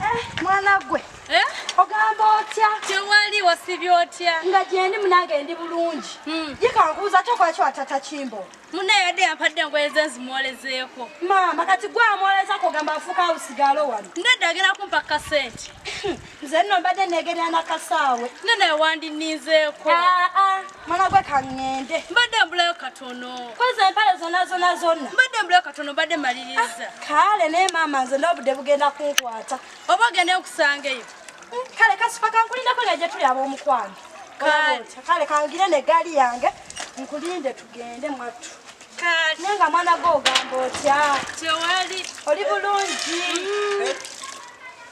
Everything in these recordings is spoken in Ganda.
Eh, mwana gwe eh? ogamba otya tewali wasibye otya nga gyendi munange ndi bulungi hmm. yekankubuza ate okolaki watata kimbo muna yadde yampadde engoye ze nzimwolezeeko maama kati gwe amwolezako ogamba afuuka awusigalo wano ndadde agenda kumpa kasente hmm, nze nno mbadde negerera nakasaawe nno naye wandinizeeko ah, ah. mwana gwe kaŋŋende mbadde mbulayo katono koza empale zonna zonna zonna mbadde mbulayo katono mbadde maliriza ah, kale naye maama nze n'obudde bugenda kunkwata oba ogenda okusanga eyo mm, kale kasifa kankulindako nga gye tuli ab'omukwano kale kangire ne gaali yange nkulinde tugende mwattu naye nga mwana gwe ogamba otya tewali oli bulungi mm. eh,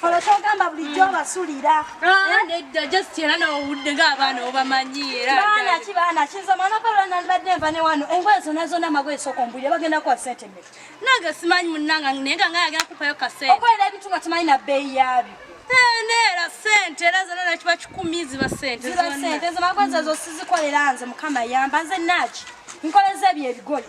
Kolo kyogamba bulijjo hmm. obasulira. Ah, eh? Nedda just era n'owudde ng'abaana obamanyi era. Baana ki baana ki nze omwana gwe lwa nandibadde nva ne wano engoye zonna zonna amagoye sooka ombulire bagenda kuwa ssente mmeka. Nange simanyi munnanga naye nga nga yagenda kukupayo ka ssente. Okolera ebintu nga tomanyi na bbeeyi yaabyo. Eh, neera ssente era zonna nakiba kikumi ziba ssente zonna. Ziba ssente zamagoye ezo sizikolera nze mukama yamba nze naaki nkoleza ebyo ebigoye.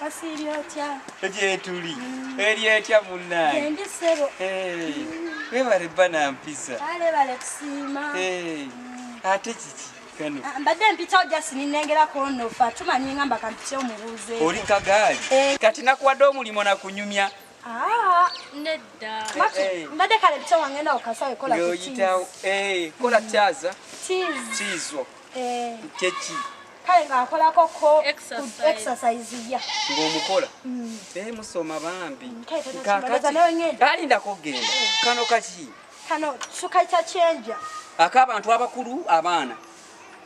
Wasiibye otya? Gyetuli. Mm. Eri etya munnaye? Endi ssebo. Weebale bba na mpisa. Kale bale kusiima. Mm. Ate kiki? kano ah, mbadde mpitawo just ninengera konofa tumanyi nga mba kampite omubuuze oli kagaali eh. kati nakuwadde omulimu nakunyumya ah, nedda eh, eh. mbadde kale mpita wangenda okasawe kola kola kyaza kizo kyeki kale nga nkolako ko exercise ya ng'omukola mm. eh, musoma bambi alindako okugenda eh. kano kaki kano sukaita kyenja ak'abantu abakulu abaana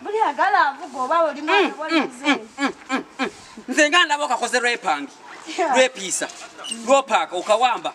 buli agala avuga oba oli mwana mm, mm, nze nga ndaba okakoze lwepangi lwepiisa lwopaaka okawamba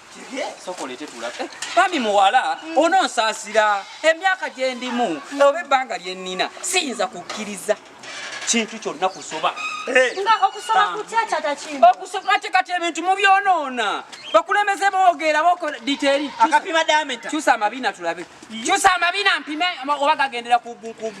bambi muwala ononsaasira emyaka gye ndimu oba ebbanga lye nnina siyinza kukkiriza kintu kyonna kusoba okusoma ate kati ebintu mubyonoona bakulemeze boogera bokola diteeri kyusa amabina tulabe kyusa amabina mpime oba gagendera ku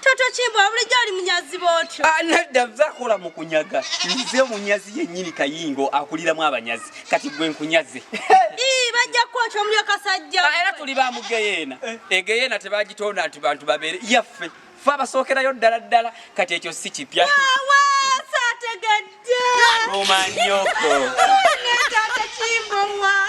Toto Kimbo bulijjo oli munyazi bwotyo. Ah, Nadda zakola mu kunyaga. Nze munyazi yennyini kayingo akuliramu abanyazi. Kati gwe nkunyaze. Ii bajja kwokya omulyo kasajja. Ah, era tuli ba mugeyeena. Eh. Egeyeena tebagitonda nti bantu babeere yaffe. Ffe abasookerayo ddala ddala kati ekyo si kipya. Wawa saategedde. Omanyoko. Netaata Kimbo wa.